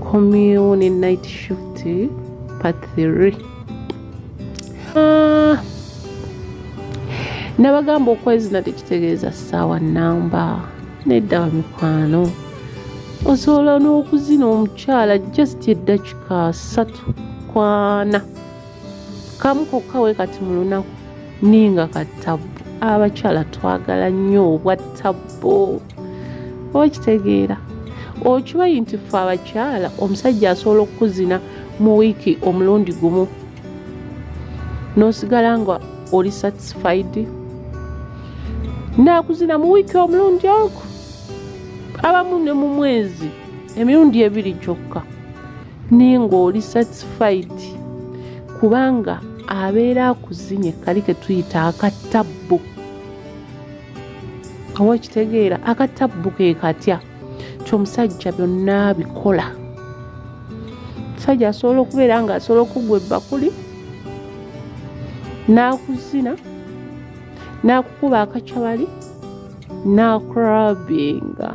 Komyewo ne night shift part 3 ah. nabagamba okwezina tekitegeeza ssaawa namba nedda bamikwano osobola n'okuzina omukyala just eddakika satu kwana kamu kokka we kati mu lunaku ninga katabbu abakyala twagala nnyo obwa tabbu okitegeera okibayi nti fe abakyala omusajja asobola okukuzina mu wiiki omulundi gumu nosigala nga oli satisfied nakuzina mu wiiki omulundi ogu abamu ne mu mwezi emirundi ebiri kyokka naye ngaoli satisfied kubanga abeera akuzinye kali ketuyita akattabbu awa ekitegeera akatabbu ke katya kyomusajja byonna bikola omusajja asobola okubeera nga asobola okugwa ebbakuli n'akuzina n'akukuba akacabali n'akurabinga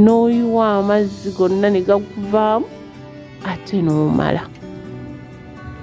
n'oyiwa amazzi gonna ne gakuvaamu ate n'omala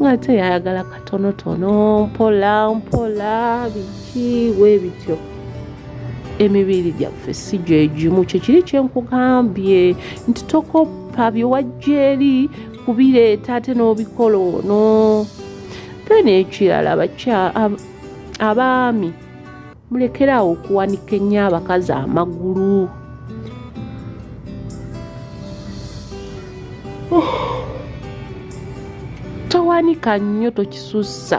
nga ate yayagala katonotono mpola mpola biki we bityo emibiri gyaffe si gyegimu kyekiri kyenkugambye nti tokoppa byewajja eri kubireeta ate n'obikola ono then ekirala abaami mulekeraawo okuwanika ennyo abakazi amagulu towanika nnyo tokisussa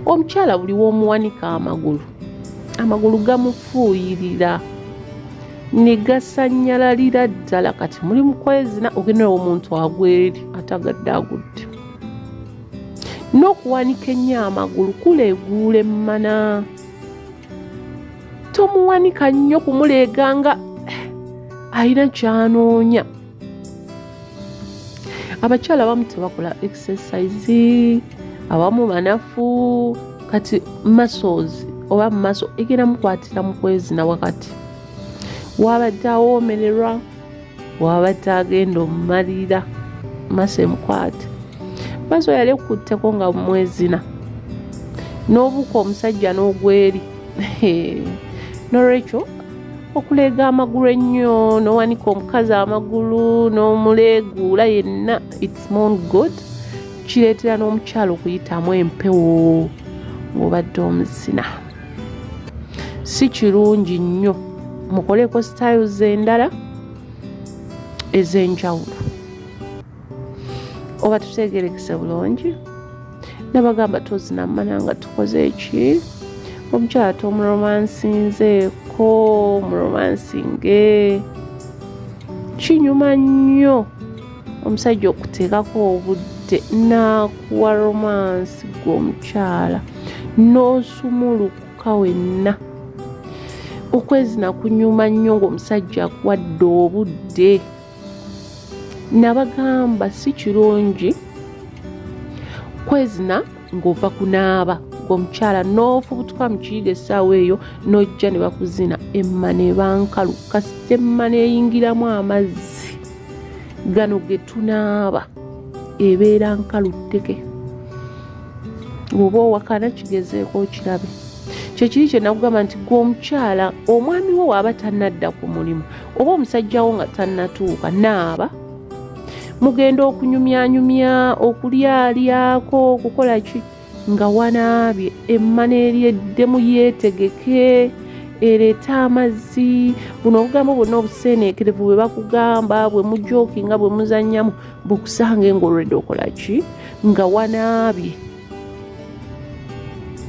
omukyala buli w'omuwanika amagulu amagulu gamufuuyirira ne gasanyalalira ddala kati muli mukwezina ogenda omuntu agweri atagadde agudde n'okuwanika ennyo amagulu kuleeguula emmana tomuwanika nnyo kumuleega nga alina kyanoonya abakyala abamu tebakola exercise abamu banafu kati muscles oba mumaso egenda mukwatira mukwezina wakati wabadde awoomererwa wabadde agenda omumalira masa emukwate bazo yali ekutteko nga mwezina n'obuka omusajja n'ogweri nolwekyo okuleega amagulu ennyo nowanika omukazi amagulu n'omuleeguula yenna its mon god kireetera n'omukyalo okuyitamu empewo ng'obadde omuzina si kirungi nnyo mukoleko styles endala ez'enjawulo oba tutegerekese bulungi nabagamba tozina mana nga tukoze eki omukyala tomuromansinzeeko muromansinge kinyuma nnyo omusajja okuteekako obudde n'akuwa romansi gwe omukyala n'osumulukuka wenna okwezina kunyuma nnyo ng'omusajja akuwadde obudde nabagamba si kirungi kwezina ng'ova kunaaba omukyala n'ofubutuka mu kiyiga essaawa eyo n'ojja ne bakuzina emmana ebankalu kasita emmana eyingiramu amazzi gano ge tunaaba ebeera nkalutteke oba owakana kigezeeko okirabe kyekiri kyenakugamba nti gwe omukyala omwami wo waaba tanadda ku mulimu oba omusajja wo nga tannatuuka naaba mugenda okunyumyanyumya okulyalyako okukola ki nga wanaabye emmana eryeddemu yeetegeke ereete amazzi buno obugambo bwonna obuseeneekerevu bwe bakugamba bwe mujooki nga bwe muzannyamu bukusange ng'olwedde okola ki nga wanaabye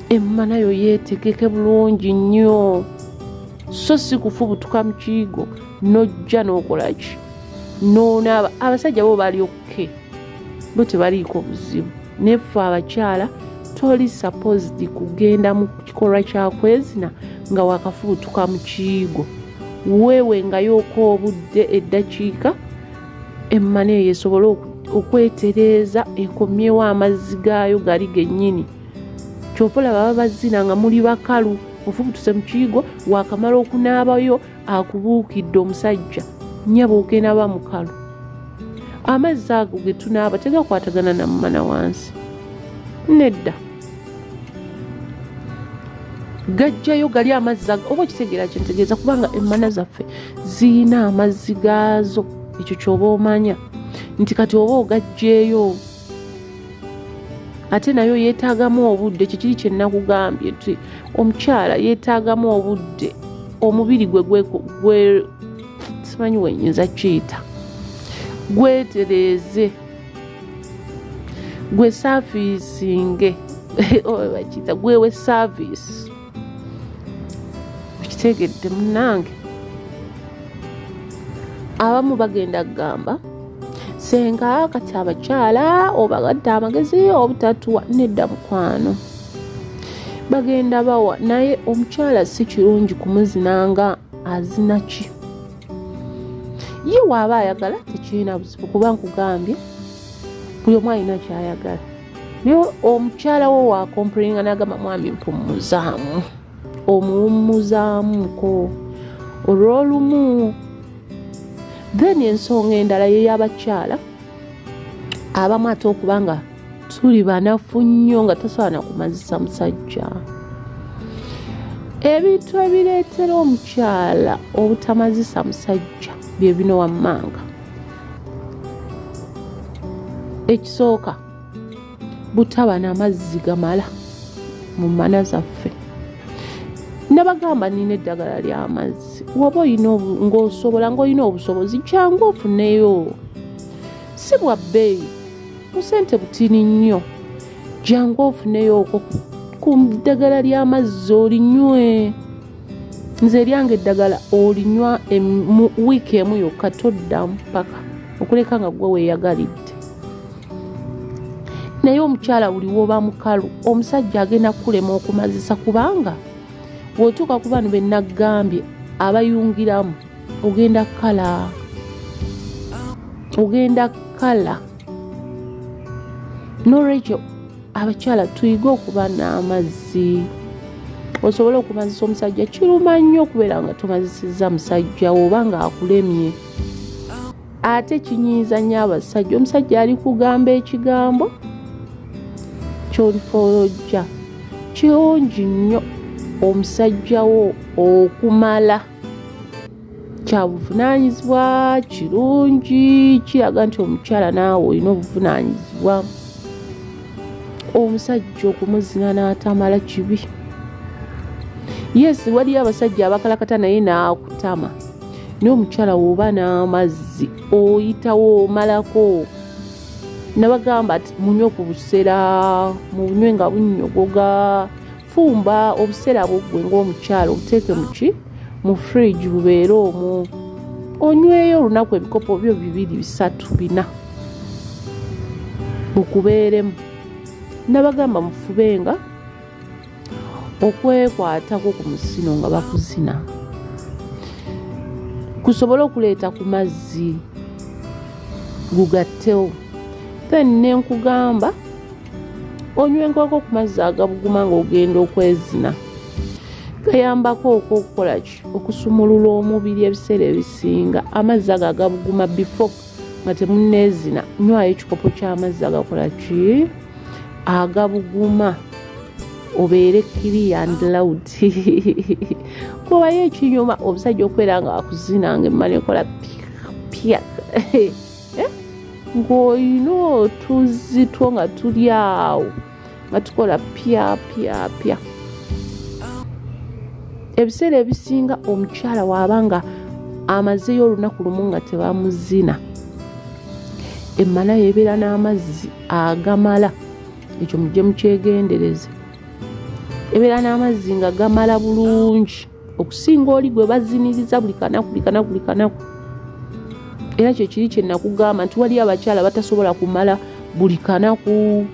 emmana yo yeetegeke bulungi nnyo so si kufubutuka mu kiyigo n'ojja n'okola ki n'onaaba abasajja bo bali okke okay. bo tebaliiko buzibu naye ffe abakyala toli supposed kugenda mu kikolwa kyakwezina nga wakafubutuka mu kiyigo weewe nga yooka obudde eddakiika emmana eyo esobole okwetereeza ekomyewo amazzi gaayo gali gennyini kyopola baba bazina nga muli bakalu ofubutuse mu kiyigo wakamala okunaabayo akubuukidde omusajja nyaba ogenda ba mukalu amazzi ago ge tunaaba tegakwatagana na mumana wansi nedda gajjayo gali amazzi ago oba okitegeera kyentegeeza kubanga emmana zaffe ziyina amazzi gaazo ekyo kyoba omanya nti kati oba ogajjeeyo ate nayo yeetaagamu obudde kikiri kye nakugambye nti omukyala yeetaagamu obudde omubiri gwe gwe simanyi wenyinza kiyita gwetereeze gwe saafiisinge oba bakiyita gwewe saaviisi okitegedde munange abamu bagenda kugamba senga kati abakyala obagadde amagezi obutatuwa nedda mukwano bagenda bawa naye omukyala si kirungi kumuzina nga azina ki ye waaba ayagala tekirina buzibu kuba nkugambye buli omu alina kyayagala naye omukyala wo wakompulinga nagamba mwami mpumuzaamu omuwummuzaamuko olwolumu then ensonga endala yeyabakyala abamu ate okuba nga tuli banafu nnyo nga tosobola nakumazisa musajja ebintu ebireetera omukyala obutamazisa musajja bye bino wammanga ekisooka butaba na mazzi gamala mu mana zaffe nabagamba nina eddagala lyamazzi waba olina ngaosobola ngaolina obusobozi kyangu ofuneyo si bwa bbeeyi busente butini nnyo jangu ofuneyo okwo ku ddagala ly'amazzi olinywe nze eryange eddagala olinywa mu wiiki emu yokka toddamu paka okuleka nga gwe weeyagalidde naye omukyala buli woba mukalu omusajja agenda kukulema okumazisa kubanga wotuuka ku bano benaggambye abayungiramu ogenda kukala ogenda kukala nolwekyo abakyala tuyige okuba n'amazzi osobola okumazisa omusajja kiruma nnyo okubeera nga tomazisiza musajja oba ng'akulemye ate kinyiiza nnyo abasajja omusajja ali kugamba ekigambo kyolifolojja kirungi nnyo omusajjawo okumala kyabuvunaanyizibwa kirungi kiraga nti omukyala naawe olina obuvunaanyizibwa omusajja okumuzina n'atamala kibi yesi waliyo abasajja abakalakata naye n'akutama naye omukyala woba n'amazzi oyitawo omalako nabagamba ti munywe ku busera munywe nga bunyogoga fumba obuseera bwoggwe ng'omukyalo obuteeke muki mu fridge bubeere omwo onyweyo olunaku ebikopo byo bibiri bisatu bina mukubeeremu nabagamba mufubenga okwekwatako ku musino nga bakuzina kusobole okuleeta ku mazzi gugattewo then nenkugamba onywa enkoko ku mazzi agabuguma ng'ogenda okwezina gayambako okwo okukola ki okusumulula omubiri ebiseera ebisinga amazzi ago agabuguma bifo nga temuneezina nywayo ekikopo ky'amazzi agakola ki agabuguma obeere kiriya and loud kubayo ekinyuma omusajja okubeera nga akuzina nga emmala ekola pya eh? ng'olina otuzzi two nga tuli awo nga tukola pyapyapya ebiseera ebisinga omukyala waaba nga amazeyo olunaku lumu nga tebamuzina emmala yebeera n'amazzi agamala ekyo mujje mukyegendereze ebeera n'amazzi nga gamala bulungi okusinga oli gwe baziniriza buli kanaku buli kanaku buli kanaku era kyo kiri kye nakugamba nti waliyo abakyala batasobola kumala buli kanaku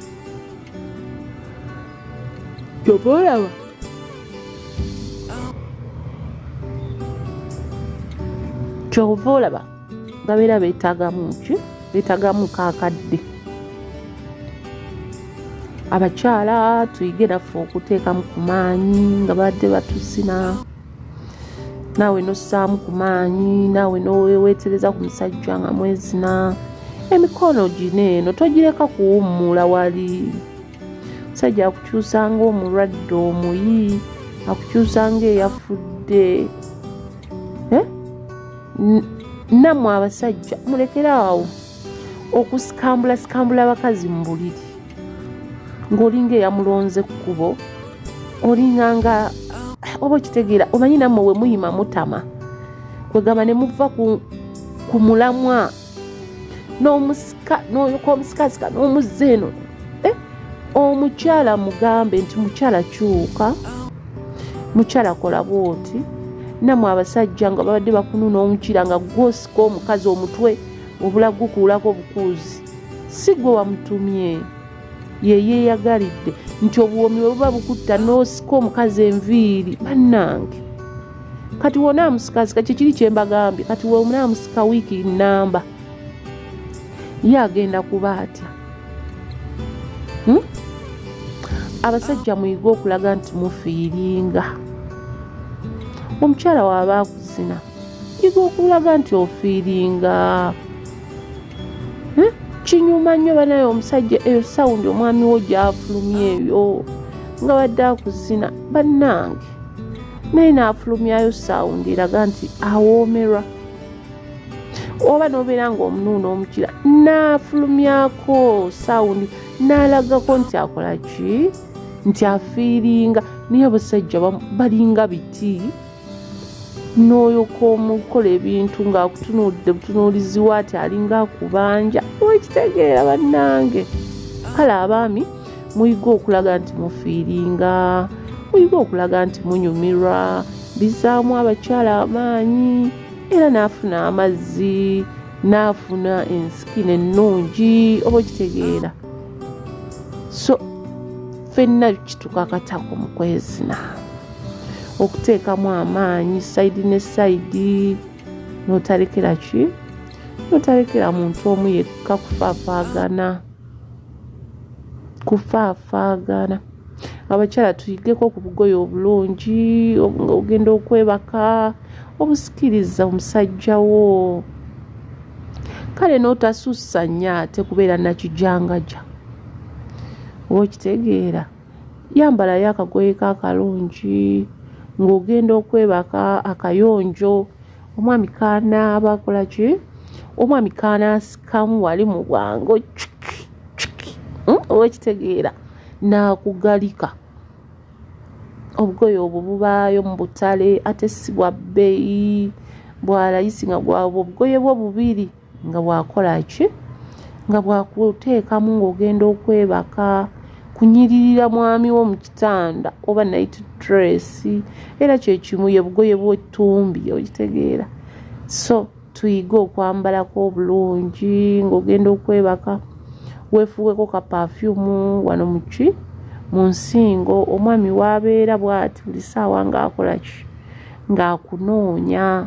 kyova olaba kyova olaba babeera beetagamu ki beetagamu kakadde abakyala tuyige naffe okuteekamu ku maanyi nga badde batusina naawe nossaamu ku maanyi naawe noweetereza ku musajja nga mwezina emikono gino eno togireka kuwummula wali omusajja akukyusa ngaomulwadde omuyi akukyusa ngaeyafudde nammwe abasajja mulekere awo okusikambula sikambula abakazi mu buliri ng'olinga eyamulonze ku kubo olinga nga oba okitegeera omanyi nammwe we muyima mutama kwegamba ne muva ku mulamwa n'omusika n'oyoka omusikazi ka n'omuzze eno eh? omukyala mugambe nti mukyala kyuka mukyala kola bwoti namwe abasajja nga babadde bakununa omukira nga gwosika omukazi omutwe obula gukuulako obukuuzi si gwe wamutumye yeyeyagalidde nti obuwoomi bwe buba bukutta n'osika omukazi enviiri bannange kati wona amusikasika kyekiri kyembagambye kati wona amusika wiiki namba ye agenda kuba atya hmm? abasajja muyige okulaga nti mufiiringa omukyala waaba akuzina yiga okulaga nti ofiiringa hmm? kinyuma nnyo banaye omusajja eyo sawundi omwami wo gyafulumya eyo nga badde akuzina bannange naye naafulumyayo sawundi eraga nti awoomerwa oba nobeera nga omunuuna omukira naafulumyako sawundi naalagako nti akolaki nti afiiringa naye abasajja balinga biti n'oyoka omukola ebintu ng'akutunuulidde butunuulizi waati alinga akubanja wekitegeera bannange kale abaami muyiga okulaga nti mufiiringa muyiga okulaga nti munyumirwa bizaamu abakyala amaanyi era n'afuna amazzi n'afuna ensikino ennungi oba okitegeera so fenna kitukakatako mu kwezina okuteekamu amaanyi sayidi ne sayidi notalekera ki notalekera muntu omu yekka kufaafaagana kufaafaagana abakyala tuyigeko ku bugoye obulungi ogenda okwebaka obusikiriza omusajja wo kale n'otasussa nnyo ate kubeera nakijangaja oba okitegeera yambalayo akagoye ka akalungi ng'ogenda okwebaka akayonjo omwami kanaaba akola ki omwami kanaasikamu wali mu bwango cuki cuki hmm? owekitegeera n'akugalika obugoye obwo bubaayo mu butale ate si bwa bbeeyi bwalayisi nga gwabwo obugoye bwo bubiri nga bwakola ki nga bwakuteekamu ng'ogenda okwebaka kunyiririra mwami wo mu kitanda oba nayiti dresi era kyekimu ye bugoye bwettumbi okitegeera so tuyige okwambalako obulungi ng'ogenda okwebaka wefuweko ka pafyumu wano muki mu nsingo omwami waabeera bwati buli saawa ng'akola ki ng'akunoonya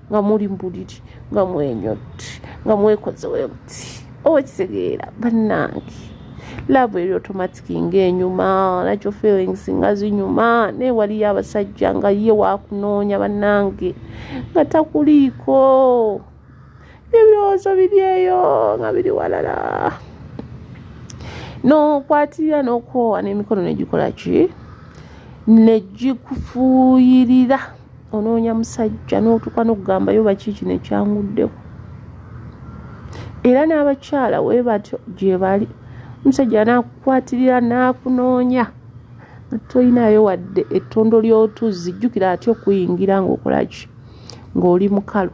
nga muli mu buliri nga mwenyotti nga mwekozewo emuti oba kitegeera bannange laavu eri otomatiki ngaenyuma nakyo feelings nga zinyuma naye waliyo abasajja nga ye wakunoonya bannange nga takuliiko ebirowoozo biri eyo nga biri walala nokwatirira nokwowa n'emikono negikola ki negikufuuyirira onoonya musajja n'otuuka n'okugambayo bakiiki nekyanguddeko era n'abakyala we batyo gye bali omusajja n'akukwatirira n'akunoonya tolinayo wadde ettondo ly'otuzzi jjukira atya okuyingira ng'okolaki ng'oli mukalu